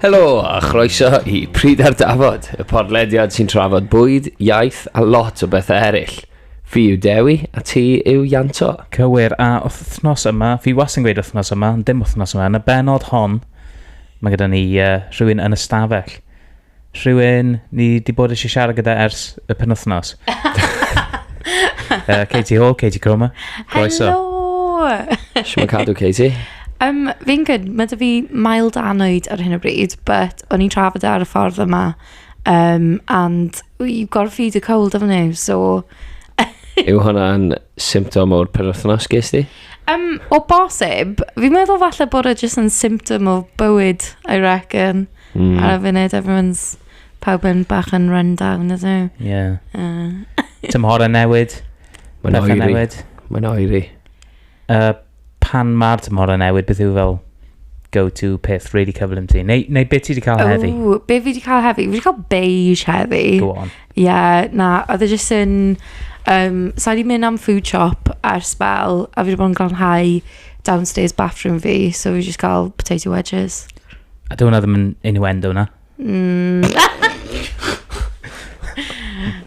Helo a chroeso i Pryd ar Dafod, y podlediad sy'n trafod bwyd, iaith a lot o bethau eraill. Fi yw Dewi a ti yw Ianto. Cywir, a wythnos yma, fi was yn gweud wythnos yma, ond dim wythnos yma, yn y benod hon, mae gyda ni uh, rhywun yn y stafell. Rhywun ni di bod eisiau siarad gyda ers y penwthnos. uh, Katie Hall, Katie Cromer. Croeso. Hello! Siwm yn cadw, Katie. Um, fi'n good. Mae dy fi mild anwyd ar hyn o bryd, but o'n i'n trafod e ar y ffordd yma. Um, and you've got to feed a cold, haven't you? So... Yw hwnna'n symptom o'r penwthnos ges di? Um, o bosib, fi'n meddwl falle bod e jyst yn symptom o bywyd, I reckon. Mm. Ar y funud, everyone's pawb yn bach yn run down, ydw. Ie. Yeah. Uh. Tymhorau newid. Mae'n oeri. Newid. Mae'n oeri. Uh, pan mae'r tymhorau newid, beth yw fel go-to peth really cyflym ti? Neu, neu beth ti wedi cael heddi? O, beth fi wedi cael heddi? Fi wedi cael beige heddi. Go on. Ie, yeah, na, oedd e jyst yn... Um, so, wedi mynd am food shop ar spel, a fi wedi bod yn glanhau downstairs bathroom fi, so fi wedi cael potato wedges. A dyw hwnna ddim yn innuendo na? Mm.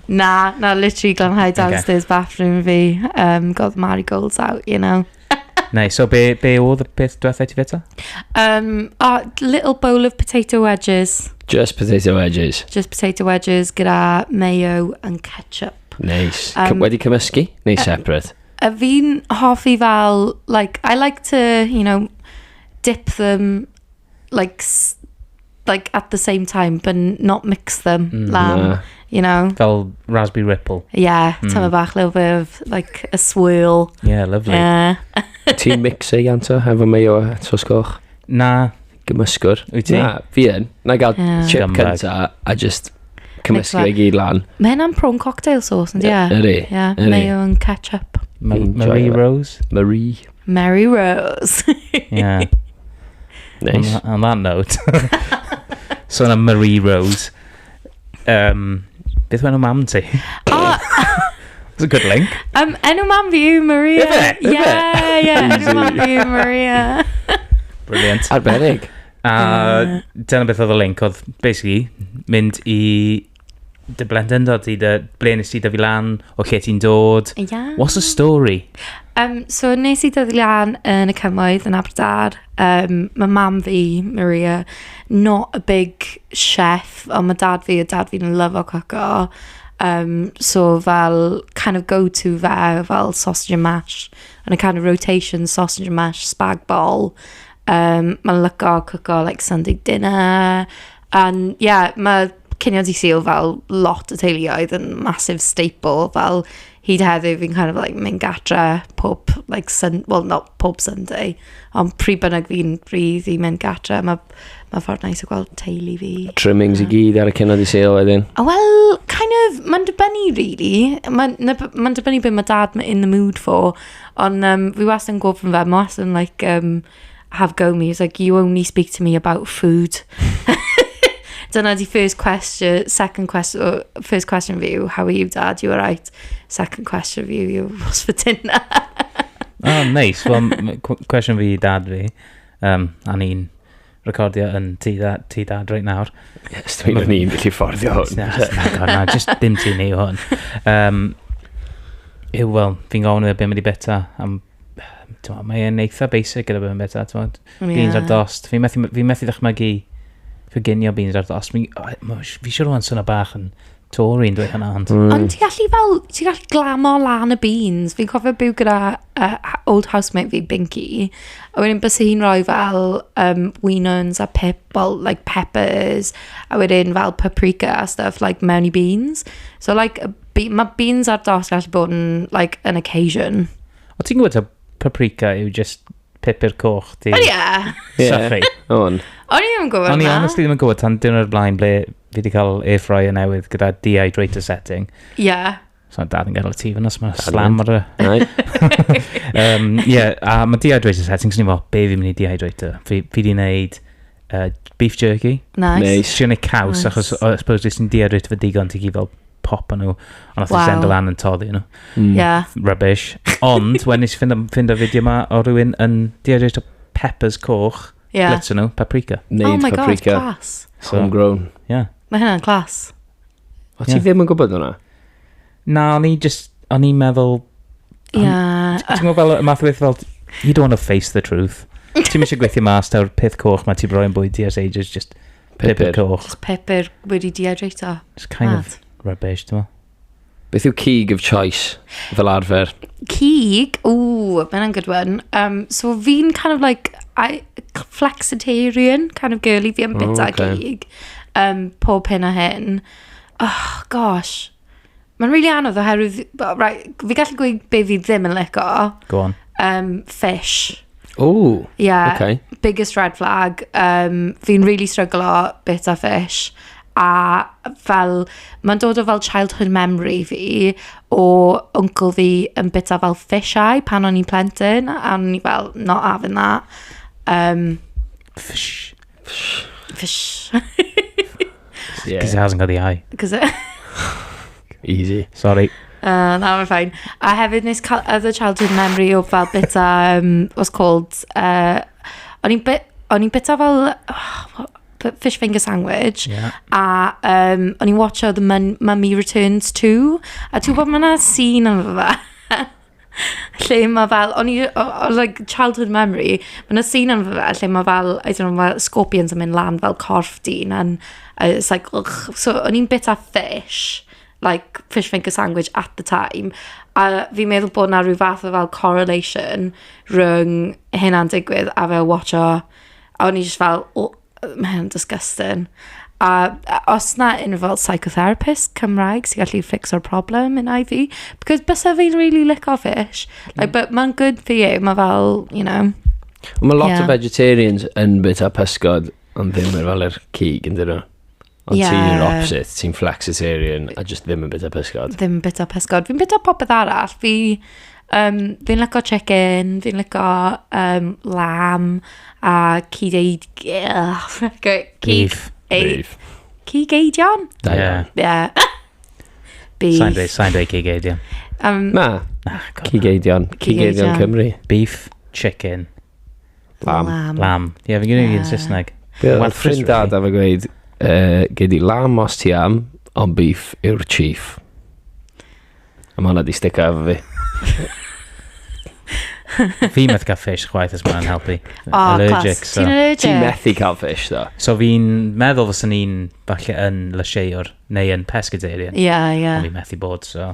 na, na, literally glanhau downstairs okay. bathroom fi. Um, got the marigolds out, you know. Neu, so be, be oedd y peth diwethaf ti feta? Um, oh, little bowl of potato wedges. Just potato wedges. Just potato wedges gyda mayo and ketchup. Nice. Um, Wedi cymysgu? Neu uh, separate? A fi'n hoffi fel, like, I like to, you know, dip them like, like at the same time, but not mix them, mm, lamb, yeah. you know. Fel raspberry ripple. Yeah, mm. tyfa bach little bit of, like, a swirl. Yeah, lovely. Yeah. Ti'n mix e, Ianto, efo mayo a tosgoch? Na. Gymysgwr? Wyt ti? Na, fi yn. Na gael yeah. chip cynta a just cymysgu ei gyd lan. Mae hynna'n prawn cocktail sauce, ynddi? Ydy. Ie, mae o'n catch up. Marie Rose? Marie. Mary Rose. yeah. Nice. On, on that note. so yna Marie Rose. Um, beth mae'n mam ti? Oh. It's a good link. Um, enw mam fi yw Maria. Ife? Ife? Yeah, yeah. enw mam fi yw Maria. Brilliant. Arbennig. A dyna beth oedd y link, oedd basically mynd i dy blentyndod ti, dy ble nes ti dyfu lan, o lle ti'n dod. Ia. What's the story? Um, so nes i dyfu lan yn y cymoedd yn Aberdar. Um, mae mam fi, Maria, not a big chef, ond mae dad fi a dad fi'n love o coco. Um, so fel kind of go-to fe, fel sausage and mash, and a kind of rotation sausage and mash, spag bol. Um, mae'n lyco coco like Sunday dinner, Ond ie, mae cinio Dydd Sul fel lot o teuluoedd yn massive staple, fel hyd heddiw fi'n kind of like mynd gatre pob like Sun- wel not pob Sunday, ond pryd bynnag fi'n free fi'n mynd gatre, mae ma ffordd neis o gweld teulu fi. Trimmings i gyd ar y cynod i sale wedyn. A wel, kind of, mae'n dibynnu really. Mae'n ma mae'n dibynnu beth mae dad ma- in the mood for. Ond um, fi wastad yn gofyn fe, mae wastad yn like, um, have go me. He was like, you only speak to me about food. Dyna di first question, second question, oh, first question for you, how are you dad, you alright? Second question for you, you was for dinner. oh, nice. Well, question for you dad fi, um, a ni'n recordio yn ti, da, ti dad right nawr. Yes, dwi'n mynd i'n gallu fforddio hwn. Na, just dim ti ni hwn. Um, yw, wel, fi'n gofyn i fe beth mae wedi beta am mae e'n eitha basic gyda bod yn beta, ti'n Beans ar dost. Fi methu, fi methu ddechmygu coginio beans ar dost. Fi, fi siwr o'n sy'n bach yn Tory yn dweud hynna, ond... Mm. Ond ti gallu fel, ti gallu glamo lan y beans. Fi'n cofio byw gyda uh, old housemate fi, Binky. A wedyn bys hi'n rhoi fel um, winons a pep, well, like peppers. A wedyn fel paprika a stuff, like mewn i beans. So like, Be- Mae beans ar dos gallu bod yn, like, an occasion. O ti'n gwybod ta paprika yw just pepper coch di Wel, ie. Ie. sychu? On. O'n i ddim yn gwybod O'n i hwnna. honestly ddim yn gwybod tan dyn o'r blaen ble fi wedi cael air fryer newydd gyda dehydrator setting. Ie. So dad yn gael y tîf yna, so mae Dad yn slam ar y... Right. Um, yeah, a mae dehydrator setting, so ni'n fel, be fi'n mynd i dehydrator? Fi, fi di wneud uh, beef jerky. Nice. Neis. Ti'n ei caws, Nice. achos o- I suppose jyst yn dehydrator fy digon, ti'n gyd fel pop yn nhw. Ond nath wow. i send lan yn toddi nhw. Mm. Yeah. Rubbish. Ond, wedyn nes i ffind ffind o fideo yma o rhywun yn dehydrate o peppers coch. Yeah. Blitz nhw, paprika. Neud oh my paprika. god, class. So, Homegrown. Yeah. Mae hynna'n class. O, ti yeah. ddim yn gwybod hwnna? Na, o'n i just, o'n i'n meddwl... Yeah. Ti'n gwybod fel, y math o beth fel, you don't want to face the truth. Ti'n mysio gweithio mas, ta'r peth coch mae ti'n rhoi'n bwyd ti as ages, just Pupur coch. Just pupur wedi dehydrato. It's kind Mad. of rubbish, dwi'n Beth yw cig of choice fel arfer? Cig? Ooh, mae'n yna'n good one. Um, so fi'n kind of like, I, flexitarian kind of girly, fi yn bita oh, okay. cig. Um, pob hyn a hyn. Oh, gosh. Mae'n rili anodd oherwydd, well, right, fi gallu gweud be fi ddim yn lico. Go on. Um, fish. Ooh, Yeah. okay. biggest red flag. Um, fi'n really struggle o bit a fish. A fel, mae'n dod o fel childhood memory fi o uncle fi yn bita fel fish eye pan o'n i'n plentyn. A o'n i fel, not having that. Um, Fish. Fsh. Yeah. Because it hasn't got the eye. Cos e... Easy. Sorry. Uh, na, mae'n ffain. A hefyd nes cael other childhood memory o fel bita, um, what's called, uh, o'n i'n bit, o'n i'n bita fel oh, fish finger sandwich, yeah. a um, o'n i'n watcho The Mummy Returns 2, a ti'n gwybod mae'na scene yn fydda. Lle mae fel, o'n i yy o- o- like, childhood memory, ma' 'na scene ynddo fe lle mae fel, I don't know, ma' scorpions yn mynd lan fel corff dyn and yy it's like ych. So o'n i'n byta fish, like fish finger sandwich at the time, a fi'n meddwl bod 'na ryw fath o fel correlation rhwng hynna'n digwydd a fel watsio, a o'n i jyst fel, w-. Mae hynna'n disgusting. A a- os 'na unrhyw fel psychotherapist Cymraeg sy'n gallu fficsio'r problem innau fi. Because byse fe'n rili lico fish. Like but mae'n good for you. Mae fel, you know. Ond mae lot o Ie. vegetarians yn bwyta pysgod ond ddim efo alergy ag ydyn nhw. Ond yeah. ti'n opposite, ti'n flexitarian a just ddim yn bita pysgod. Ddim yn bita pysgod. Fi'n bita popeth arall. Fi, um, fi'n lyco chicken, fi'n lyco um, lamb a cyd eid... Beef. Beef. Cyd eidion? Da iawn. Yeah. Beef. Sa'n dweud, sa'n dweud cyd eidion. Um, na, na cyd eidion. Cyd eidion Cymru. Beef, chicken. Lam. Lam. Lam. Ie, yeah, fi'n gwneud yeah. yn Saesneg. Wel, ffrind dad a fe gweud, uh, gyd i lam os ti am, ond beef yw'r chief. A mae hwnna di stick efo fi. fi methu cael fish chwaith os mae'n helpu. O, oh, allergic, clas. So. Ti'n allergic? Ti'n methu cael fish, ddo. So fi'n meddwl fos yn un falle yn lysieuwr, neu yn pescatarian. Ie, yeah, ie. Yeah. Ond fi'n methu bod, so.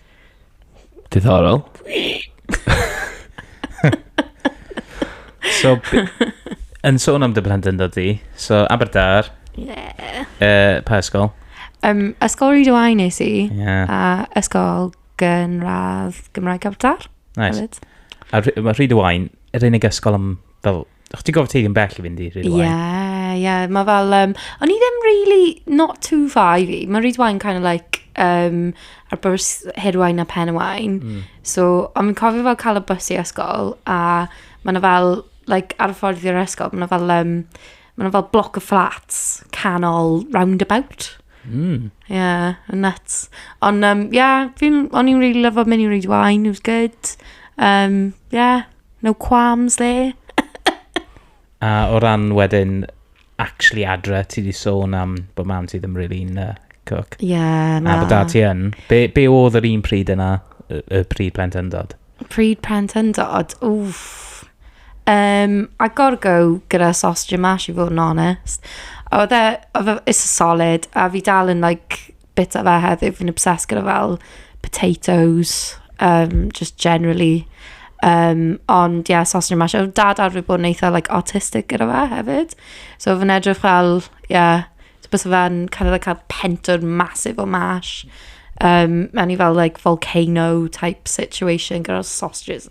Diddorol. so, yn sôn am dy blentyndod di, so Aberdar, yeah. uh, pa ysgol? Um, ysgol Rydw I nes i, yeah. a ysgol gynradd Gymraeg Aberdar. Nice. A mae Rydw I'n yr unig ysgol am fel O'ch ti'n gofod teithio'n bell i fynd i Rhyd Wain? Ie, yeah, ie. Yeah. Mae fel... Um, o'n i ddim really not too far i fi. Mae Rhyd Wain kind of like um, ar bwrs Hirwain a Pen y Wain. Mm. So, ond fi'n cofio fel cael y bus i ysgol a mae yna fel, like, ar y ffordd i'r ysgol, mae yna fel, um, mae yna fel bloc o flats canol roundabout. Mm. Yeah, nuts. Ond, um, yeah, fi'n, o'n i'n really lyfo mynd i Rhyd Wain, it was good. Um, yeah. No qualms there. A o ran wedyn actually adre, ti wedi sôn am bod mam ti ddim really yn uh, cook. Ie, yeah, na. A bod dad ti yn. Be, be oedd yr un pryd yna, y, y pryd plentyndod? Pryd plentyndod? Wff. Um, I gotta go gyda sausage and mash i fod yn honest. Oedd e, oedd e, it's a solid, a fi dal yn like bita fe heddiw, fi'n obsessed gyda fel potatoes, um, just generally. Um, ond ie, yeah, sausage and mash. Oedd dad arfer bod yn eitha like, autistic gyda fe hefyd. So fi'n edrych fel, ie, yeah, so bys fe'n kind of like, cael pentwr masif o mash. Um, mewn i fel like, volcano type situation gyda'r sausages.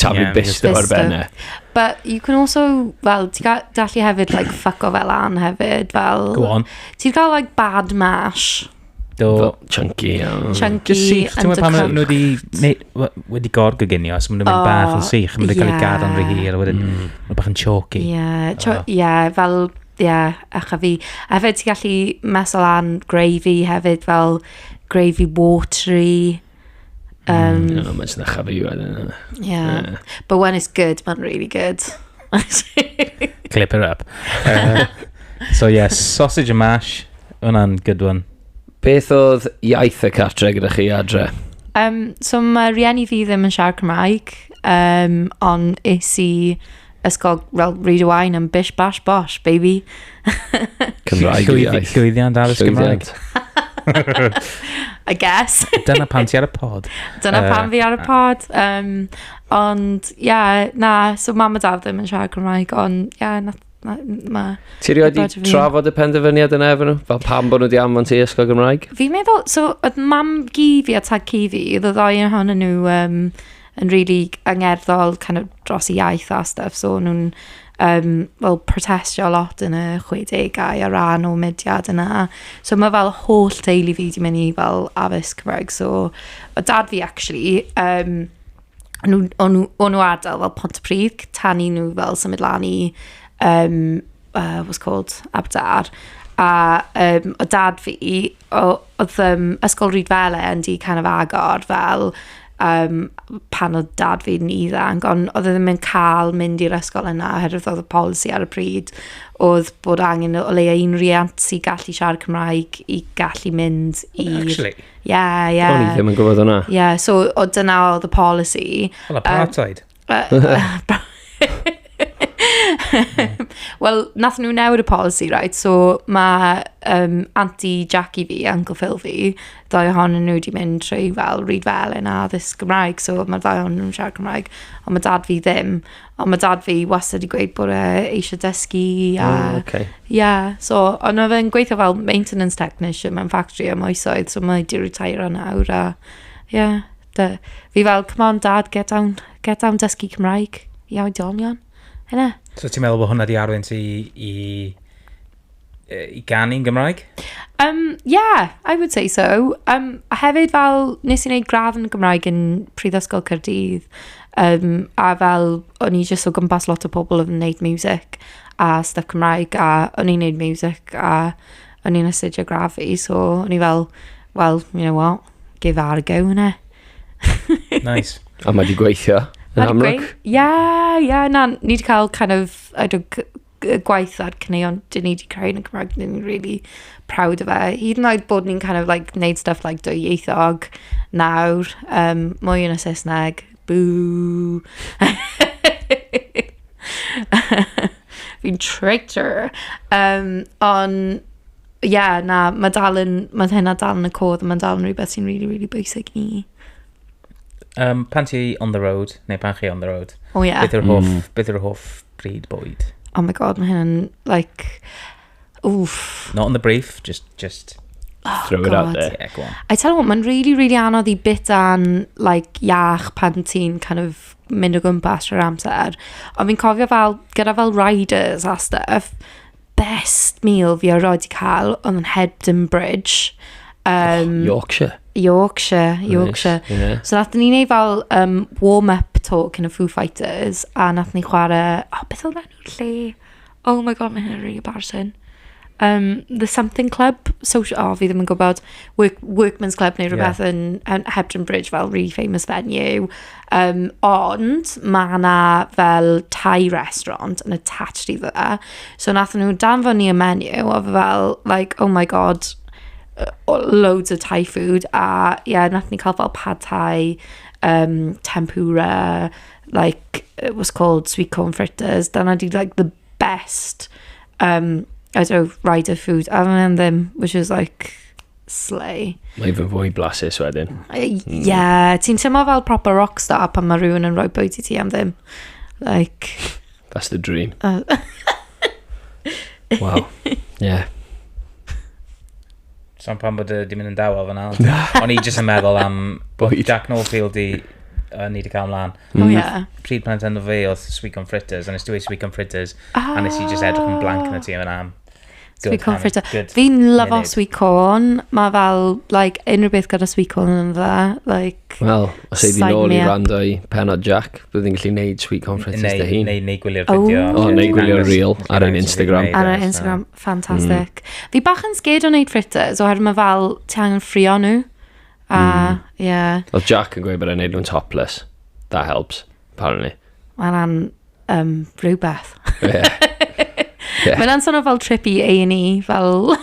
Taflu yeah, bisto ar ben e. But you can also, fel, ti'n cael dallu hefyd, like, fuck o fel an hefyd, fel... Go on. Ti'n cael, like, bad mash. Do. Chunky. Um. Chunky. Just sych, ti'n meddwl pan maen nhw wedi, wedi gorgyginio, os maen nhw'n mynd bach yn sych, maen nhw'n cael ei gadael yn rhy hir, a wedyn, mm. maen bach yn choky. Ie, oh. yeah, fel, ie, yeah, ach a fi. A hefyd ti'n gallu mesol an gravy hefyd, fel gravy watery. Um, mm, mae'n sy'n achaf i weld yna. Yeah. But when it's good, mae'n really good. Clip it up. Uh, so yeah, sausage and mash. Hwna'n good one. Beth oedd iaith y cartre gyda chi adre? Um, so mae rhieni fi ddim yn siarad Cymraeg, um, ond is i ysgol fel read wine and bish bash bosh, baby. Cymraeg Llwyddi- iaith. Llwyddiant addysg Gymraeg. Llwyddiant. I guess. Dyna pan ti ar y pod. Dyna Yy, pan fi ar y pod. Um, ond, ie, yeah, na, so mam a dad ddim yn siarad Cymraeg, ond, ie, yeah, na, na, ma. Ti rioed Gwybod i fi. trafod y penderfyniad yna efo nhw? Fel pam bod nhw di anfon ti i ysgol Gymraeg? Fi'n meddwl, so, oedd mam gi fi a tad ci fi, oedd y ddau ohonyn nhw, um, yn rili angerddol kind of dros y iaith a stwff, so o'n nhw'n yym fel protestio lot yn y chwedegau ar ran o mudiad yna. So ma' fel holl teulu fi 'di mynd i fel addysg Cymraeg, so oedd dad fi actually yym o'n nhw'n o'n nhw o'n nhw ardal fel Pontypridd c- tan i nhw fel symud lan i yym yy what's it called Aberdâr a yym oedd dad fi... o- oedd yym, Ysgol Rhydyfelin yn du canol agor, fel, yym, pan oedd dad fi'n ifanc, ond oedd e ddim yn cael mynd i'r ysgol yna, oherwydd oedd y polisi ar y pryd, oedd bod angen o leia' un riant sy'n gallu siarad Cymraeg i gallu mynd i... O, acshyli? Ie, ie. O'n i ddim yn gwybod hwnna. Ie, so, o- dyna oedd y polisi. Fel apartheid? Wel, nath nhw newid y policy, right? So, mae um, Aunty Jackie fi, Uncle Phil fi, ddau ohonyn nhw wedi mynd trwy fel read fel yn addysg Gymraeg, so mae'r ddau ohonyn nhw'n siarad Cymraeg, ond mae dad fi ddim. Ond mae dad fi wastad wedi gweud bod e eisiau dysgu a... Oh, okay. Yeah, so, ond mae fe'n gweithio fel maintenance technician mewn factory am oesoedd, so mae wedi retire nawr a... Yeah. Dy, fi fel, come on dad, get down, get down dysgu Cymraeg i oedolion. Hynna. So ti'n meddwl bod hwnna di arwain ti i, i, i ganu'n Gymraeg? Um, yeah, I would say so. Um, a hefyd fel, nes i wneud gradd yn Gymraeg yn Prifysgol Cyrdydd, um, a fel, o'n i jyst o gwmpas lot o pobl oedd yn wneud music a stuff Cymraeg, a o'n i'n wneud music a o'n i'n astudio gradd fi, so o'n i fel, well, you know what, Give ar gywna. Nice. A mae di gweithio. Yn amlwg. Ia, ia, na, ni wedi cael kind of, I don't, gwaith ar cyneuon dyn ni wedi creu yn y Cymraeg, dyn ni'n really proud o fe. Hyd yn oed bod ni'n kind of like neud stuff like dwy ieithog nawr, um, mwy yn y Saesneg, boo. Fi'n traitor. Um, ond Ie, yeah, na, mae dal yn... Mae hynna dal yn y codd, mae'n dal yn rhywbeth sy'n really, really bwysig ni. Um, pan ti on the road, neu pan chi on the road, oh, yeah. beth yw'r hoff, mm. beth yw'r hoff bryd bwyd? Oh my god, mae hynna'n, like, oof. Not on the brief, just, just oh, throw god. it out there. Yeah, go on. I tell you what, mae'n really, really anodd i bit an, like, iach pan ti'n kind of mynd o gwmpas trwy'r amser. Ond fi'n cofio fel, gyda fel riders a stuff, best meal fi erioed wedi cael oedd yn Hebden Bridge. Um, oh, Yorkshire. Yorkshire, Yorkshire. Nice, yeah. So nath ni'n ei fel um, warm-up talk yn y Foo Fighters a nath ni chwarae... O, oh, beth oedd enw'r lle? Oh my god, mae hyn yn really embarrassing. Um, the Something Club, social, oh, fi ddim yn gwybod, Work, Workman's Club neu rhywbeth yeah. yn, yn Hebden Bridge, fel really famous venue. Yym, ond ma' 'na fel Thai restaurant yn attached i fe. So wnaethon nhw danfon ni y menu a oedd e fel like "oh my god yy o- loads of Thai food" a ie wnaethon ni cael fel pad Thai, yym tempura, like it was called sweet corn fritters. Dyna 'di like the best yym I don't know ryder food a oedd hwnna ddim which was like... Slay. Mae fy fwy blasus wedyn. Ie, mm. yeah, ti'n teimlo fel proper rockstar pan mae rhywun yn rhoi bwyd i ti am ddim. Like... That's the dream. Uh, wow. Yeah. So pan bod y di mynd yn dawel fyna. O'n i jyst yn meddwl am bwyd. Jack Norfield i uh, ni wedi cael ymlaen. Mm. Oh, yeah. Pryd pan enw fi oedd Sweet Corn Fritters, a nes ti wedi Sweet Corn Fritters, ah. a nes i just edrych yn blank yn y ti yna am. Sweet corn fritter. Fi'n lyfo sweet corn. Mae fel, like, unrhyw beth gyda sweet corn yn dda. Like, Wel, os ei di nôl i rando i penod Jack, bydd yn gallu neud sweet corn fritters dy hun. Neu, neu gwylio'r fideo. O, oh, neu gwylio'r reel ar ein Instagram. Ar ein Instagram, ffantastig. Mm. Fi bach yn sgyd o neud fritters, oherwydd mae fel, ti angen ffrio nhw. A, mm. ie. Oedd Jack yn gweud bod e'n neud nhw'n topless. That helps. apparently. Mae hwnna'n um, rhywbeth. Yeah. yeah. Mae'n sôn fel trip i A&E, fel...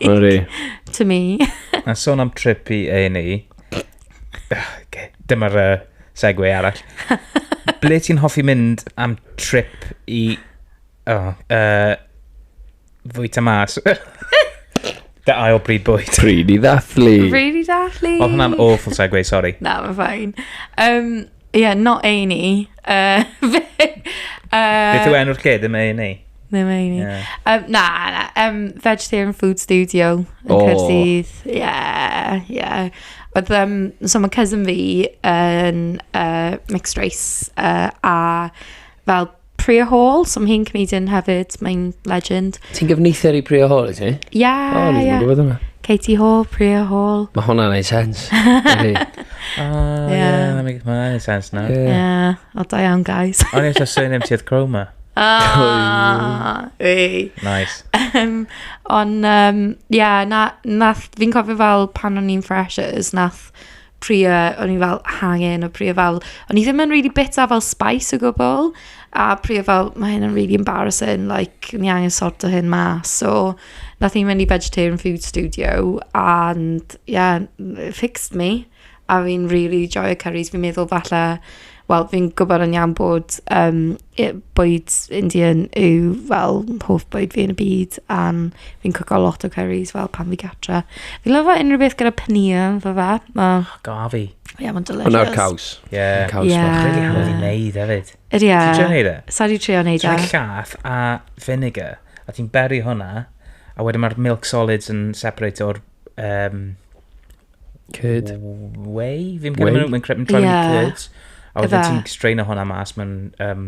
Like, to me. Mae'n sôn am trip i A&E. okay. Dyma'r uh, segwe arall. Ble ti'n hoffi mynd am trip i O, yy... fwyta mas. Dy ail bryd bwyd. Pryd i ddathlu. Really dathlu. Oedd hwnna'n awful segue, sori. Na, mae'n ffain. Um, yeah, not A&E. Uh, fe, uh, Beth yw enw'r lle, ddim ei ni. Ddim ei ni. Yeah. Um, na, na. Um, Vegetarian Food Studio yn O. Caerdydd. Yeah, yeah. Oedd, um, so mae cousin fi yn uh, mixed race uh, a fel Priya Hall, so mae hi'n comedian hefyd, mae'n legend. Ti'n gyfneithio i Priya Hall, i ti? Ia, ia. O, ni'n gwybod yna. Katie Hall, Priya Hall. Mae hwnna'n ei sens. O, ie, yeah. mae hwnna'n ei sens na. Ie, yeah. o da iawn, guys. O'n i'n eisiau surname ti oedd Chroma. Ah, ei. Nice. Um, ond, um, yeah, na, nath, fi'n cofio fel pan o'n i'n freshers, nath prie, o'n i fel hangen o prie fel, o'n i ddim yn really bita fel spice o gwbl, a prie fel, mae hyn yn really embarrassing, like, ni angen sort o hyn mas, so, nath ni mynd i Vegetarian Food Studio, and, yeah, it fixed me, a fi'n really joio cyris, fi'n meddwl falle, wel, fi'n gwybod yn iawn bod, yym, Ie, bwyd Indian yw fel hoff bwyd fi yn y byd, a fi'n cwco lot o cyris fel pan fi gatre. Fi'n lyfo unrhyw beth gyda paneer ynddo fe, ma'... O, gaf fi. Ie, mae'n delicious. Hwnna'r caws. Ie. Mae'n caws Ie. bach. Really hawdd i wneud hefyd. Ydy e. Ti'n trio wneud e? Sa di trio wneud Ti'n e? rhoi llath a vinegar, a ti'n beri hwnna, a wedyn mae'r milk solids yn separate o'r um, Curd. Whey? Fi'n credu maen nhw'n credu nhw'n yeah. curds. A wedyn ti'n strain o hwnna mas mewn um,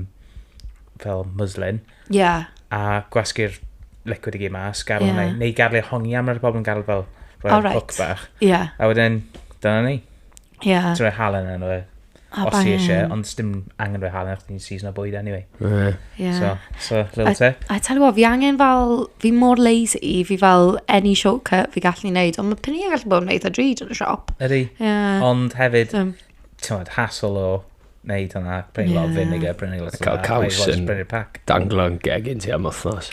fel muslin. Ie. Yeah. A gwasgu'r liquid i gyd mas, gael yeah. hwnna. Neu gael ei hongi am, rhaid pobl yn gael fel rhoi right. hook bach. Ie. Yeah. A wedyn, dyna ni. Ie. Yeah. Ti'n rhoi halen yn o fe. Oh, Os ti eisiau, ond dim angen rhoi halen achos ni'n season o bwyd anyway. Yeah. yeah. So, so little tip. I, I tell you what, fi angen fel, fi mor lazy, fi fel any shortcut fi gallu neud, ond mae penni gallu bod yn neud a drud yn y siop. Ydy. Yeah. Ond hefyd, so, ti'n meddwl, hassle o neud hwnna, prynu yeah. lot o vinegar, prynu lot o... Cael caws yn danglo'n gegin ti am wythnos.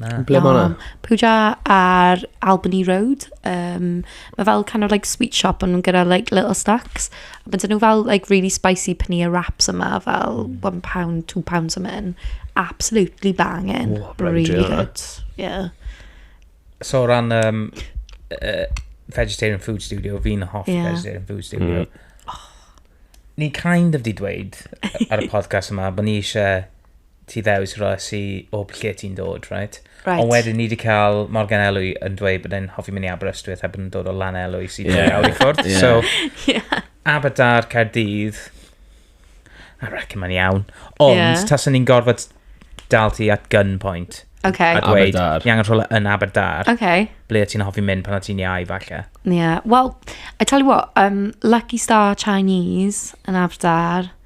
Na. Ble mae hwnna? Pooja ar Albany Road. Um, mae fel kind of like sweet shop ond nhw'n gyda like little snacks. A bydden nhw fel like really spicy paneer wraps yma fel mm. one pound, two pounds yma yn. Absolutely banging. Oh, really good. Yeah. So ran um, uh, Vegetarian Food Studio, fi'n hoff yeah. Vegetarian Food Studio. Mm. Oh. Ni kind of di dweud ar y podcast yma bod ni eisiau ti ddews ras i o lle ti'n dod, right? Right. Ond wedyn ni wedi cael Morgan Elwy yn dweud bod e'n hoffi mynd i Aberystwyth a bod e'n dod o Lan Elwy sy'n yeah. awr i ffwrdd. Yeah. So, yeah. Aberdar, Caerdydd, I reckon mae'n iawn. Ond, yeah. taswn ni'n gorfod dal ti at gunpoint. Okay. A dweud, ni angen rhywle yn Aberdar. Okay. Ble ti'n hoffi mynd pan o ti'n iau, falle. Yeah. Well, I tell you what, um, Lucky Star Chinese yn Aberdar.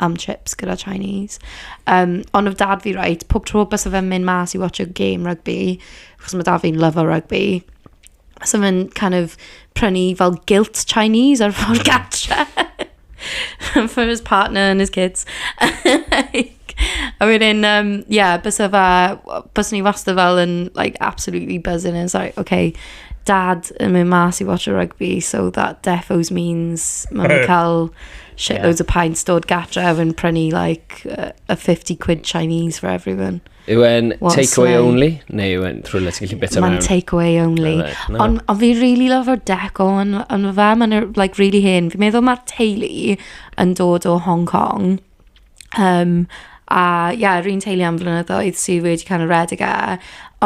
am trips gyda Chinese. Yym, ond oedd dad fi right, pob tro byse fe'n mynd mas i watch a game rygbi, achos ma' dad fi'n lyfo rygbi, byse fe'n kind of prynu fel gilt Chinese ar ffordd gatre for his partner and his kids. like, a wedyn, um, yeah, byse fe, byse ni wastad fel yn, like, absolutely buzzing. And it's like, okay, dad yn mynd mas i watch a rygbi, so that defos means mae'n cael shitloads yeah. of pints dod gatref yn prynu like uh, a 50 quid Chinese for everyone. Yw e'n takeaway only? Neu yw e'n trwy le ti'n gallu bita mewn? Mae'n takeaway only. No. Ond on fi really love o'r deco yn on fe, mae'n like, really hen. Fi'n meddwl mae'r teulu yn dod o Hong Kong. Um, a ie, yeah, rwy'n teulu am flynyddoedd sydd wedi cael y redig e.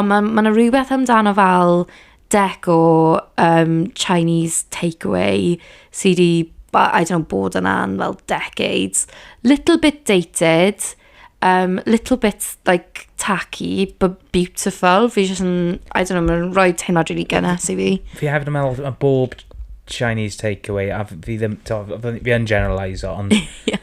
Ond mae'n ma, ma rhywbeth amdano fel dec o um, Chinese takeaway sydd wedi, I don't know, bod yna am fel decades. Little bit dated, um, little bit like tacky, but beautiful. Fi jyst yn, I don't know, mae'n rhoi teimlad rili gynnes i fi. Fi hefyd yn meddwl, mae bob Chinese takeaway, a fi ddim, fi yn generalise o, ond yeah.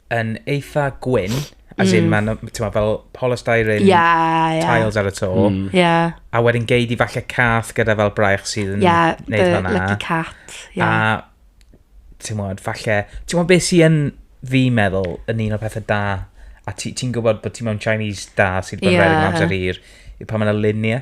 yn eitha gwyn, as in, mm. mae'n fel polystyrene yeah, yeah. tiles ar y to. Mm. Yeah. A wedyn geid i falle cath gyda fel braich sydd yn yeah, neud fanna. Yeah, lucky cat. Yeah. A, ti'n mwyn, falle, ti'n mwyn beth sy'n fi meddwl yn un o'r pethau da, a ti'n ti gwybod bod ti mewn Chinese da sydd bod yeah. rhaid yn amser hir, yw pan mae'n luniau.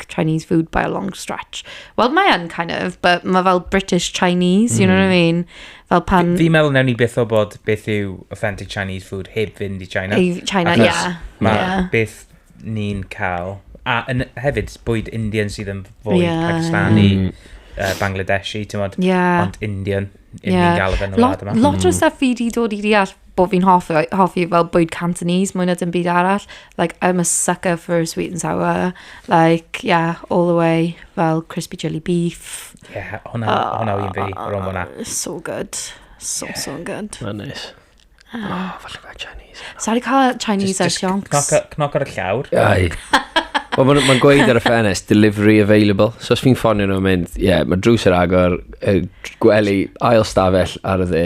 like Chinese food by a long stretch. Wel, mae yn kind of, but mae fel British Chinese, you know what I mm. mean? Fel pan... Fi'n meddwl newn ni beth o bod beth yw authentic Chinese food heb fynd i China. I China, ie. Yeah. Mae yeah. beth ni'n cael... A yn, hefyd, bwyd Indian sydd yn fwy yeah. Pakistani, mm. uh, Bangladeshi, ti'n modd, yeah. ond Indian. Yeah. Lot, lot o stuff fi di dod i deall bod fi'n hoffi, hoffi fel bwyd Cantonese mwy na dim byd arall. Like, I'm a sucker for a sweet and sour. Like, yeah, all the way. Fel crispy chili beef. Yeah, hwnna, oh, hwnna un fi, rhwng hwnna. Ah, so good. So, yeah. so good. Mae'n neis. Ah. Oh, falle fe Chinese. Sorry cael Chinese ar sioncs. Cnoc ar y llawr. Ai. Wel, mae'n ma gweud ar y ffenest, delivery available. So os fi'n ffonio nhw'n mynd, ie, yeah, mae drws yr agor, gwely, ail stafell ar y dde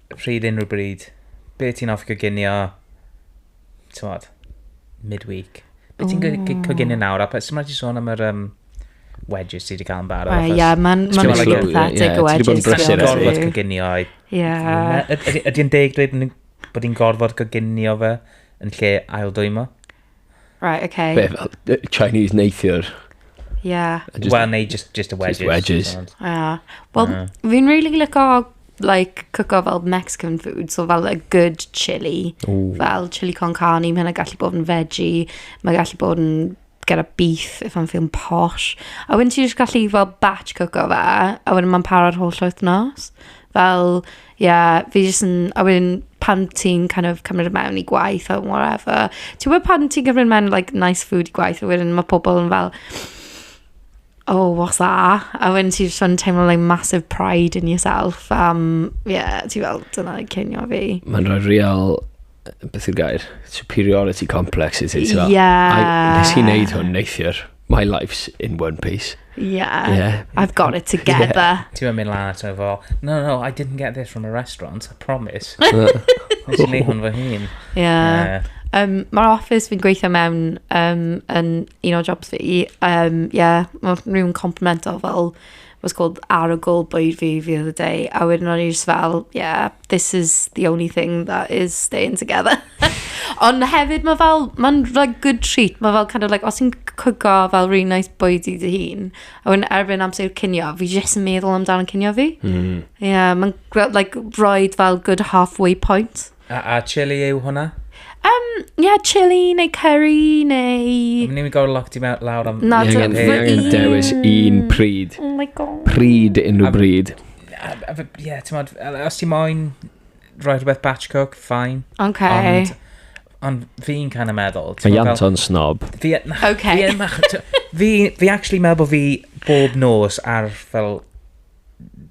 Pryd, unrhyw bryd. Be ti'n hoffi coginio, t'mod, mid-week? Be ti'n go- go- coginio nawr? A pa- sut mae ti sôn am yr yym wedges ti 'di cael yn barod? Wel, ie, achos ma'n- ma'n Ti'n gwbod, pathetic ie, ie, o ti 'di bod yn wedges, brysur ti'n gorfod ers fi. coginio i- Ie. Na, yd- ydy ydy e'n deg dweud bod ni'n gorfod coginio fe yn lle aildwymo? Right, ok. Be, fel yy Chinese neithiwr? Ie. Wel, neu just, just y wedges. Just wedges. ond- Ie. Wel, Ie. fi'n really lico, like, cwco fel Mexican food, so fel a good chili. Ooh. Fel chili con carne, mae hynna gallu bod yn veggie, mae gallu bod yn get a beef if I'm feeling posh. A wedyn ti jyst gallu fel batch cwco fe, a wedyn mae'n paro'r holl wythnos. Fel, Ie, fi jyst yn... a wedyn pan ti'n kind of cymryd e mewn i gwaith or whatever. Ti'n gwybod pan ti'n cymryd mewn like nice food i gwaith a wedyn ma' pobl yn fel "Oh, what's that?" A wedyn ti jyst yn teimlo like massive pride in yourself am ie, ti fel "Dyna cinio fi." Mae'n rhoi real beth yw'r gair? Superiority complex is it? Ie. Yeah. Nes i wneud hwn neithiwr. My life's in one piece. Yeah. yeah. I've got it together. Yeah. Ti'n mynd lan ato fo, no, no, I didn't get this from a restaurant, I promise. Nes i wneud hwn fy hun. Yeah. Uh, Um, Mae'r office fi'n gweithio mewn um, yn un o jobs fi. Um, yeah, mae rhywun complemento fel was called arogl bwyd fi the other day, a wedyn o'n i just fel, yeah, this is the only thing that is staying together. Ond hefyd, mae fel, mae'n like, good treat, mae fel kind of like, os ti'n cwgo fel really nice bwyd i dy hun, a wedyn erbyn amser cinio, fi jyst yn meddwl amdano'n cinio fi. Mm. Yeah, mae'n like, roed fel good halfway point. A, a chili yw hwnna? Um, ie, yeah, chili neu curry neu... Am ni'n gorfod locked i mewn lawr am... Na, dwi'n angen dewis un pryd. Oh my god. Pryd unrhyw bryd. Ie, ti'n modd, os ti'n moyn rhoi rhywbeth batch cook, fine. Okay. Ond, ond fi'n kind of meddwl... Mae Ianto'n snob. Fi, okay. fi, fi, fi actually meddwl bod fi bob nos ar fel...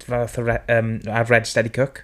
fel um, ar Red Steady Cook.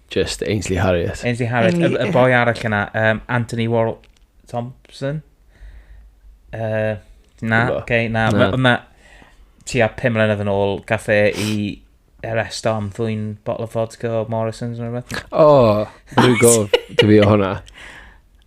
Just Ainsley Harriott. Ainsley Harriott, y, y boi arall yna, um, Anthony Warl Thompson. Uh, na, oce, okay, na. na. Yma, ti a pum mlynedd yn ôl, gaffe i arrest am ddwy'n bottle of vodka o Morrison's yn rhywbeth. O, oh, rwy'n gof, dwi fi o hwnna.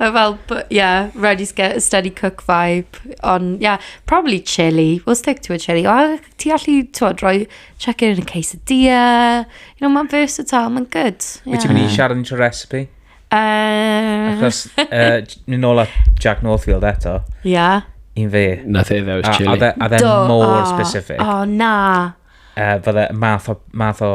Mae fel, yeah, ready to get a steady cook vibe. Ond, yeah, probably chili. We'll stick to a chili. O, ti allu, ti'n rhoi chicken yn y quesadilla. You know, mae'n versatile, mae'n good. Wyt ti'n mynd i siarad yn recipe? Uh... Achos, uh, mynd nôl at Jack Northfield eto. Yeah. I'n fe. Nath e ddewis chili. A dde e more specific. O, na. Uh, fydde math o, math o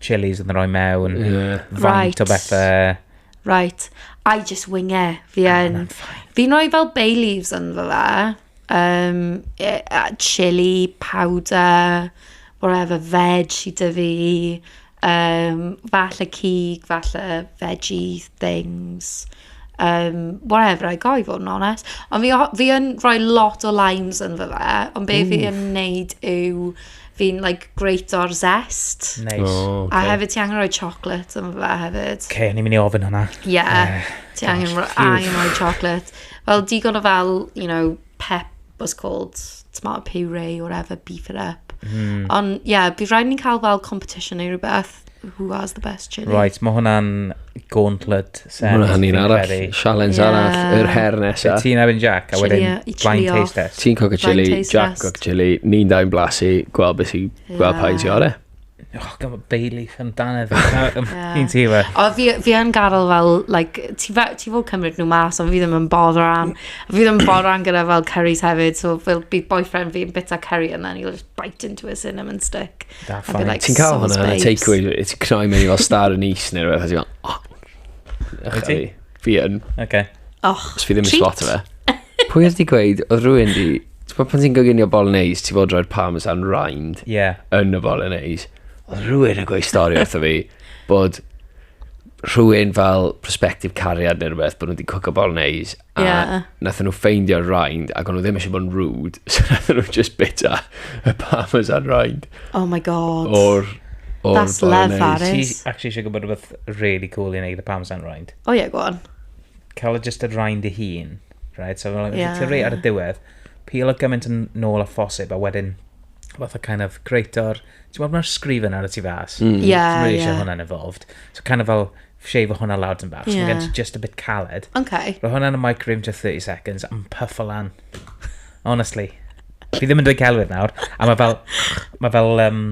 chilies yn rhoi mewn. Yeah. Faint right. o bethau. Right, I just wing it, fi yn. Fi'n rhoi fel bay leaves ynddo fe, yym, yy a chilli powder, whatever veg sy 'da fi, yym, falle cig, falle veggie things, yym, whatever I got i fod yn onest. Ond fi o- fi yn rhoi lot o limes ynddo fe, ond be fi yn wneud yw... fi'n like great o'r zest. Nice. Oh, okay. A hefyd ti angen rhoi chocolate yn fe hefyd. Okay, ni'n mynd i ofyn hwnna. Yeah, uh, ti angen, angen rhoi chocolate. Fel digon o fel, you know, pep was called tomato puree or whatever, beef it up. Mm. Ond, ie, yeah, bydd rhaid ni'n cael fel competition neu rhywbeth. who has the best chili. Right, mae hwnna'n gauntlet set. Mae hwnna'n un arall, challenge yeah. arall, yr her nesa. Fe ti'n erbyn Jack, a wedyn blind taste test. Ti'n coca chili, Jack coca chili, ni'n dau'n blasu, gweld beth i, gweld pa i'n ti ore. Oh, gan bod Bailey yn dan efo. Ni'n ti efo. O, fi yn gadael fel, like, ti fod cymryd nhw mas, ond fi ddim yn bodd rhan. Fi ddim yn bodd rhan gyda fel curries hefyd, so fel bydd boyfriend fi yn bita curry yna, ni'n bite into a cinnamon stick. Da, fine. Like, ti'n cael hwnna yn y takeaway, ti'n cnoi mewn i fel star yn is neu rhywbeth, ti'n meddwl, oh, ych chi? Fi yn. Oce. Och, Os fi ddim yn spot fe. Pwy oedd di gweud, oedd rhywun di, ti'n bod pan ti'n goginio bolognese, ti'n bod roi'r parmesan rind yeah. yn y bolognese. Oedd rhywun yn gweud stori wrtho fi bod rhywun fel prospective cariad neu rhywbeth bod nhw wedi cwco bolognese A yeah. nath nhw ffeindio'r rind, ac o'n nhw ddim eisiau bod yn rude, so nath nhw just bita y parmesan rind. Oh my god. O'r... Or That's lefarus. Ti actually eisiau gwybod rhywbeth really cool i wneud y parmesan rind? O oh, ie, yeah, go on. Cael just y rind i hun, right? So, like, yeah. ti rei ar y diwedd, peel o gymaint yn nôl a phosib, a wedyn fath o kind of greator, ti'n meddwl mae'r sgrifen ar y tu fas? Mm. Yeah, Ti'n really yeah. eisiau hwnna'n involved. So kind of fel shave hwnna lawr dyn bach. Yeah. So mae gen ti just a bit caled. Okay. Rho hwnna yn y microwave just 30 seconds am puff o lan. Honestly. Fi ddim yn dweud celwydd nawr. A mae fel... Mae fel... Um,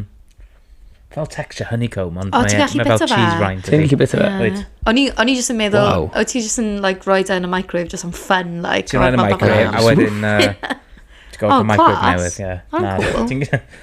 fel texture honeycomb, ond oh, mae, e- mae fel cheese rind. Ti'n gallu bita fe? O'n i jyst yn meddwl, wow. o ti jyst yn like, roi da yn y microwave, just am fun. Like, Ti'n roi yn y microwave, a wedyn... Uh, Ti'n gofio oh, microwave newydd, ie. Oh, cool.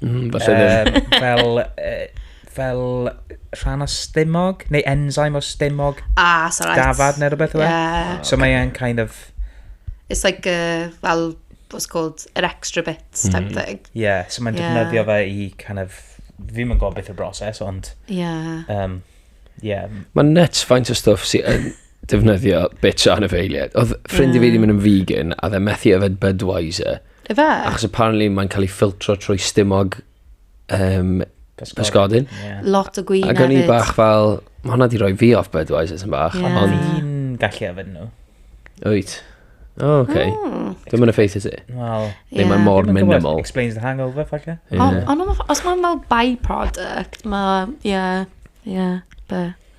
Mm, falle ddim. Um, fel, uh, fel rhan o stumog, neu enzyme o stumog. Ah, so right. Dafad neu rhywbeth o fe. Yeah. Oh, so okay. mae'n kind of... It's like, uh, fel, what's called, an extra bit mm. type mm. thing. Yeah, so mae'n yeah. defnyddio fe i kind of... Fi mae'n gwybod beth y broses, ond... Yeah. Um, yeah. Mae'n nuts faint o stuff sy'n defnyddio bitch o anifeiliaid. Oedd ffrind i fi wedi mynd yn vegan, a dde methu yfed Budweiser. Efe? Achos apparently mae'n cael ei ffiltro trwy stumog um, pysgodyn. Yeah. Lot o gwyn Ac o'n i hefyd. bach fel, mae hwnna di roi fi off Budweiser sy'n bach. Ie. Ond, Fi'n gallu yfed nhw. wyt. O, oh, okay. Mm. Dwi'n mynd effeithio ti. Wel, Neu mae'n mor ddim yn gwybod. minimal. Explains the hangover, falle. Ie. Ond on, os mae'n fel byproduct, mae, ie, ie, be.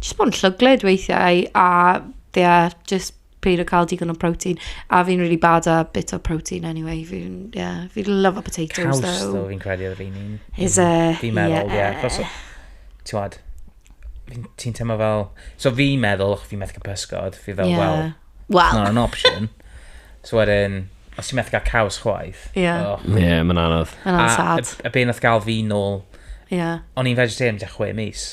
Jyst bod yn llwglyd weithiau a ie, jyst peidio cael digon o protein. A fi'n really bad at bits o protein anyway. Fi'n, ie, fi love a potatoes Caws, ddo, though. fi'n credu oedd fi'n un. Is e? Fi'n meddwl, ie. Yeah. Cos, ti'n wad, ti'n teimlo fel... So fi'n meddwl, fi'n methu cael pysgod, fi fel, yeah. wel, well. it's not an option. so wedyn, os ti'n methu cael caws chwaith. Ie. Yeah. Oh. Ie, yeah, mae'n anodd. Mae'n anodd sad. A, a, a be nath gael fi nôl... Ie. Yeah. O'n i'n vegetarian da chwe mis.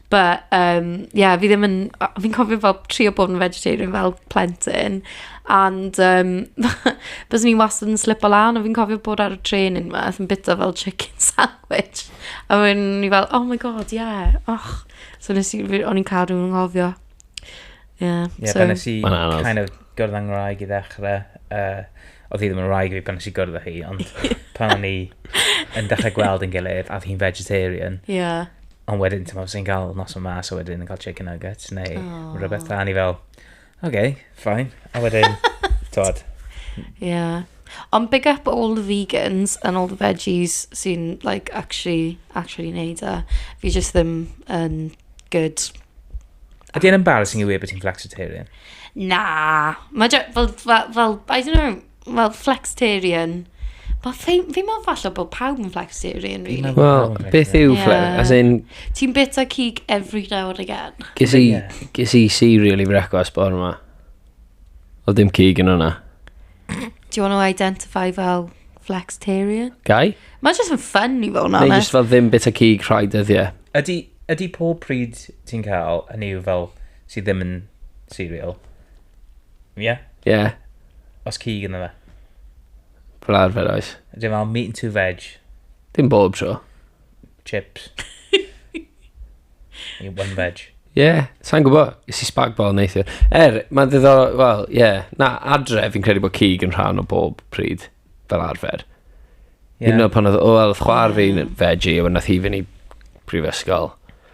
But, um, yeah, fi ddim yn... Fi'n cofio fel trio bod yn vegetarian fel plentyn. And, um, bys ni wastad yn slip o lan, a fi'n cofio bod ar y tren yn yma, yn bita fel chicken sandwich. A wedyn ni fel, oh my god, yeah, och. So nes i, o'n i'n cadw yn nghofio. Yeah, yeah so... Nes i kind of gwrdd â ngwraig i ddechrau. Uh, oedd hi ddim yn wraig fi pan nes i gwrdd â hi, ond pan o'n i yn dechrau gweld yn gilydd, a oedd hi'n vegetarian. Ie. Yeah. Ond wedyn, ti'n meddwl, sy'n cael nos o mas, a wedyn yn cael chicken nuggets, neu oh. rhywbeth da, ni fel, oce, okay, fine. A wedyn, tod. Ie. Yeah. Ond big up all the vegans and all the veggies sy'n, like, actually, actually neud e. Fi just ddim yn um, good Ydy e'n embarrassing i weud bod ti'n flexitarian? Na. Mae fel, fel, fel, I don't know, fel flexitarian. Mae fi, fi meddwl falle bod pawb yn flexitarian, really. Wel, beth yw yeah. flex? As in... Ti'n bita cig every now and again. Gys i, gys i cereal i frecwast bod yma. O ddim cig yn hwnna. Do you want to identify fel flexitarian? Gai? Mae jyst yn ffyn i fod yn Neu onest. just fel ddim bit o cig rhai dyddiau. Ydy, ydy pob pryd ti'n cael, hynny yw fel, sydd ddim yn cereal, ie? Yeah? Ie, yeah, Os cig yna fe. fel arfer oes. Ydy fel meat and two veg. Dim bob tro. chips. I one veg. Ie, yeah, sa'n gwybod. Is i spagbol neithiwr. Er, mae'n ddiddorol, wel, ie. Yeah. Na, adre, fi'n credu bod cig yn rhan o bob pryd, fel arfer. Yeah. Hyd yn oed pan oedd, o, oedd chwar fi'n veggie, a wedyn nath hi fynd i prifysgol.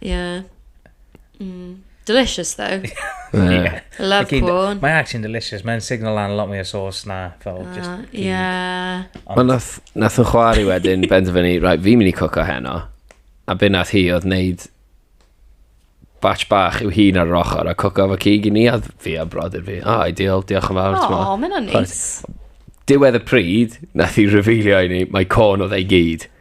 Yeah. Mm. Delicious though. yeah. Love Again, porn. Mae actually'n delicious. Mae'n signal lan a lot mwy o sauce na fel uh, just cig. Yeah. Ond nath, nath yn chwari wedyn benderfynu, right, fi'n mynd i cwco heno. A be nath hi oedd wneud batch bach yw hun ar yr ochr a cwco fo cig i ni a fi a brodyr fi. Ah, oh, ideal, diolch yn fawr. O, oh, mae'n neis. Diwedd y pryd, nath hi revealio i ni, mae corn oedd ei gyd.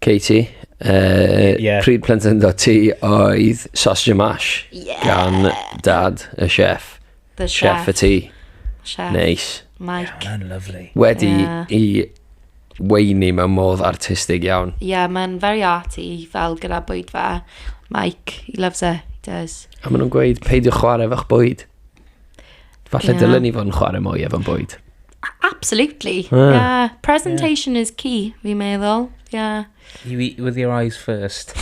Katie, uh, yeah. pryd plentyndo ti oedd sausage and mash yeah. gan dad y chef. The chef. Chef y ti. Chef. Neis. Mike. Yeah, mae'n lovely. Wedi yeah. i weini mewn modd artistig iawn. Ie, yeah, mae'n very arty fel gyda bwyd fe. Mike, he loves it, he does. A maen nhw'n gweud, peidio chwarae efo'ch bwyd. Falle yeah. dylen ni fod yn chwarae mwy efo'n bwyd. Absolutely. Yeah. yeah. Presentation yeah. is key, fi'n meddwl. Yeah. You eat with your eyes first.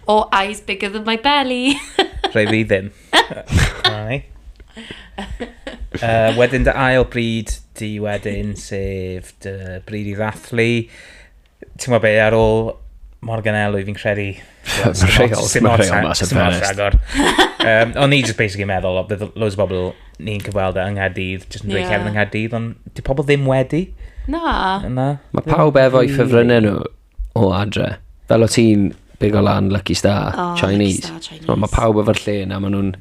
Or eyes bigger than my belly. Rhaid fi ddim. Rhaid. Uh, wedyn dy ail bryd di wedyn, sef dy bryd i ddathlu. ti'n gwybod be, ar ôl Morgan Elwy, fi'n credu... Mae'n rheol, mae'n rheol mas yn pen agor. um, o'n i just basically meddwl, o, bydd loads o bobl ni'n cyfweld e yng Nghaerdydd, just yn dweud yeah. Kevin yng Nghaerdydd, ond di pobl ddim wedi. Na. Na. Mae pawb efo i ffefrynnau nhw o adre. Fel o ti'n big o lan Lucky Star, oh, Chinese. Mae pawb efo'r lle yna, maen nhw'n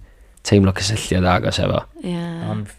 teimlo cysylltiad agos efo. Yeah. Ond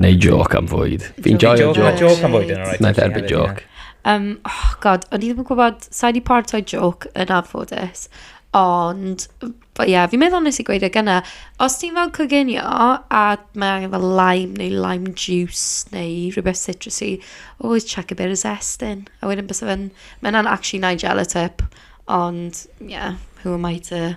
Neu joc am fwyd. Fi'n joio joc. Mae joc am fwyd yn alright. Mae'n dderbyn joc. Um, oh god, o'n i ddim yn gwybod, sa'i di partoi joc yn anffodus, ond, ie, yeah, fi'n meddwl nes i gweud y e gyna, os ti'n fel coginio, a mae angen fel lime neu lime juice neu rhywbeth citrusy, always chuck a bit of zest in. A wedyn bys fe'n, mae'n actually Nigella tip, ond, ie, yeah, who am I to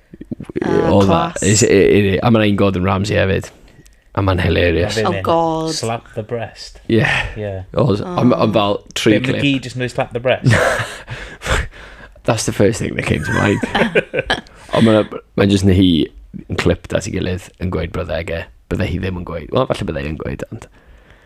Oh, class. A mae'n ein Gordon Ramsay hefyd. A mae'n hilarious. Oh god. Slap the breast. Yeah. Yeah. Oh, I'm, I'm about three clip. Mae gyd jyst yn slap the breast. That's the first thing that came to mind. Ond mae'n ma jyst yn hi yn clip dat i gilydd yn gweud byddai ge. Byddai hi ddim yn gweud. Wel, falle byddai yn gweud, ond...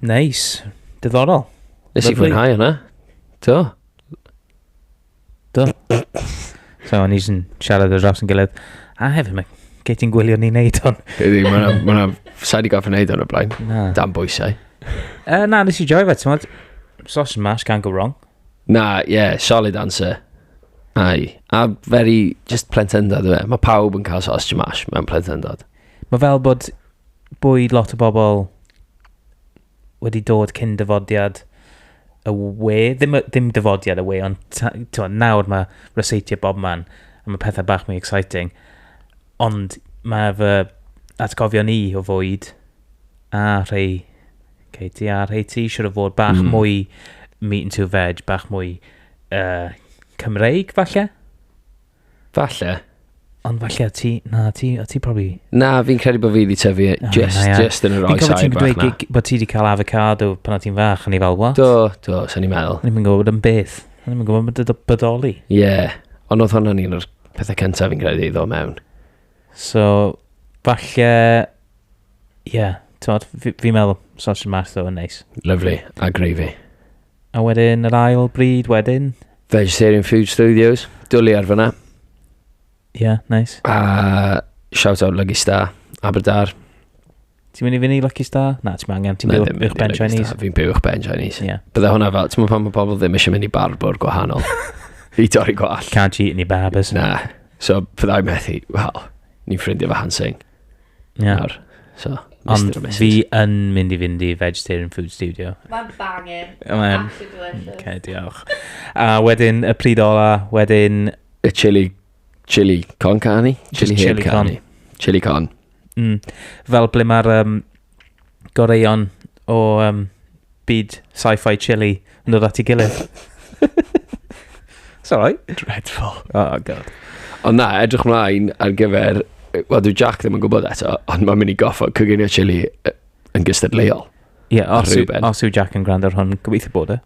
Nice. Diddorol. Nes i fwynhau hwnna. Do. Do. so, o'n i'n siarad o dros yn gilydd. A hefyd, mae gei ti'n gwylio ni wneud hwn. Gei di, mae yna... Sa'i di gofyn wneud hwn o blaen. Na. Dan bwysau. Uh, na, nes i joio fe, ti'n Sauce and mash, can't go wrong. Na, ie, yeah, solid answer. Ai. A very, just plentendod, dwi fe. Mae pawb yn cael sauce and mash mewn plentendod. Mae fel bod bwyd lot o bobl wedi dod cyn dyfodiad y we. Ddim, ddim dyfodiad y we, ond ta, to, nawr mae reseitio bob man. A mae pethau bach mwy exciting. Ond mae fy atgofion i o fwyd a rhai Katie a rhai ti siwr o fod bach mm. mwy meat and two veg, bach mwy uh, Cymreig falle? Falle. Ond falle o ti, na, ti, o ti profi... Na, fi'n credu bod fi wedi tyfu oh, just, na, just yn yr oes air bach na. Bod ti wedi cael avocado pan o ti'n fach, o'n i fel, what? Do, do, sa'n i'n meddwl. O'n i'n gwybod yn beth. O'n i'n gwybod yn bodoli. Ie, yeah. ond oedd hwnna'n un o'r pethau cyntaf fi'n credu iddo mewn. So, falle, ie, yeah, fi'n meddwl, sausage math o'n neis. Lovely, a gravy. A wedyn yr ail bryd wedyn? Vegetarian Food Studios, dwli ar fyna. Ie, yeah, nice. A shout out Lucky Star, Aberdar. Ti'n mynd i fynd i Lucky Star? Na, ti'n angen, ti'n byw uwch ben Chinese. Fi'n byw uwch ben Chinese. Yeah. Bydde hwnna fel, ti'n mynd pan mae pobl ddim eisiau mynd i barbwr gwahanol. I dorri gwall. Can't eat any barbers. Na. So, byddai methu, wel, ni'n ffrindio fy Hansing. Ie. nawr. So, Ond Mister and Missus. fi yn mynd i fynd i Vegetarian Food Studio. Mae'n bangin. Mae'n- Absolutely delicious. Oce, diolch. A wedyn y pryd ola, wedyn... Y chili, chili con carni? Chili heb chili con. carni. Chili con. Mm, fel ble mae'r um, goreion o um, byd sci-fi chili yn dod at ei gilydd. Sorry. Dreadful. Oh, god. Ond na, edrych mlaen ar gyfer... Wel, dwi Jack ddim yn gwybod eto, ond mae'n mynd i goffo coginio chili yn gystadleuol. Ie, yeah, os, os yw Jack yn gwrando ar hwn, gobeithio bod e.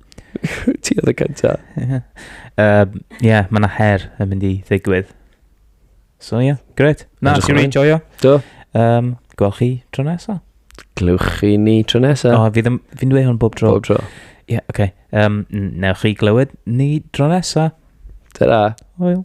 Ti oedd y cyntaf. Ie, yeah, mae yna her yn mynd i ddigwydd. So ie, yeah, gret. Na, ti wedi joio? Do. Um, Gwelch chi tro nesa. Glywch chi ni tro nesa. O, oh, fi'n fi dweud hwn bob tro. Bob tro. Ie, yeah, oce. Okay. Um, newch chi glywed ni tro nesa. Ta-ra. Hwyl.